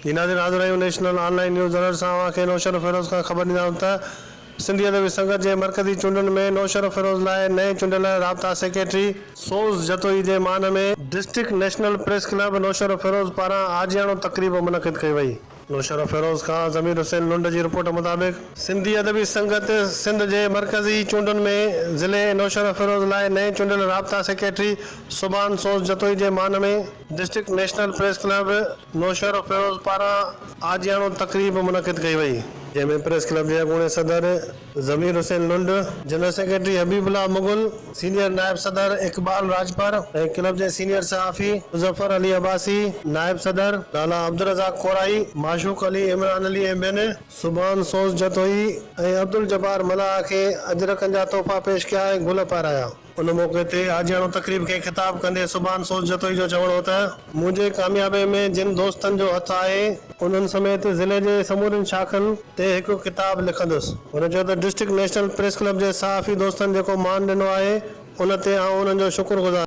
جي ناظرين حاضر آهيون national on line news alert سان اوهان کي نوشهروفيروز کان خبر ڏيندا آهيون ته سنڌي ادبي سنگت جي مرڪزي چونڊن ۾ نوشهروفيروز لاء نئين چونڊيل رابطا سيڪريٽري سوز جتوئي جي مان ۾. District national press club Naushahro Feroze پاران عاجياڻو تقريب منعقد ڪئي وئي. نوشهرو فيروز خان ضمير حسين لنڊ جي رپورٽ مطابق، سنڌي ادبي سنگت سنڌ جي مرڪزي چونڊن ۾ ضلعي نوشهرو فيروز لاء نئين چونڊيل رابطا سيڪريٽري سبحان سوز جتوئي جي مان ۾، district national press club Naushahro Feroze پاران عاجياڻو تقريب منعقد ڪئي وئي. جنهن ۾ پريس ڪلب جي اڳوڻي صدر Zamir Hussain Lund, general secretary Habibullah Mughal, senior نائب صدر اقبال راڄپر ۽ ڪلب جي سينيئر صحافي مظفر علي عباسي، نائب صدر لالا عبدالرزاق ڪورائي، معشوق علي، عمران علي ۽ ٻين. سبحان سوز جتوئي ۽ عبدالجبار ملاح کي اجرڪن جا تحفا پيش ڪيا ۽ گل پارايا. ان موقعي تي آجياڻو تقريب کي خطاب ڪندي سبحان سوز جتوئي جو چوڻ هو ته. منهنجي ڪاميابي ۾ جن دوستن جو هٿ آهي. انهن سميت ضلعي جي سمورين شاخن تي هڪ ڪتاب لکندس. هن چيو ته ڊسٽرڪٽ نيشنل پريس ڪلب جي صحافي دوستن جيڪو مان ڏنو آهي ان تي آئون انهن جو شڪر گذار.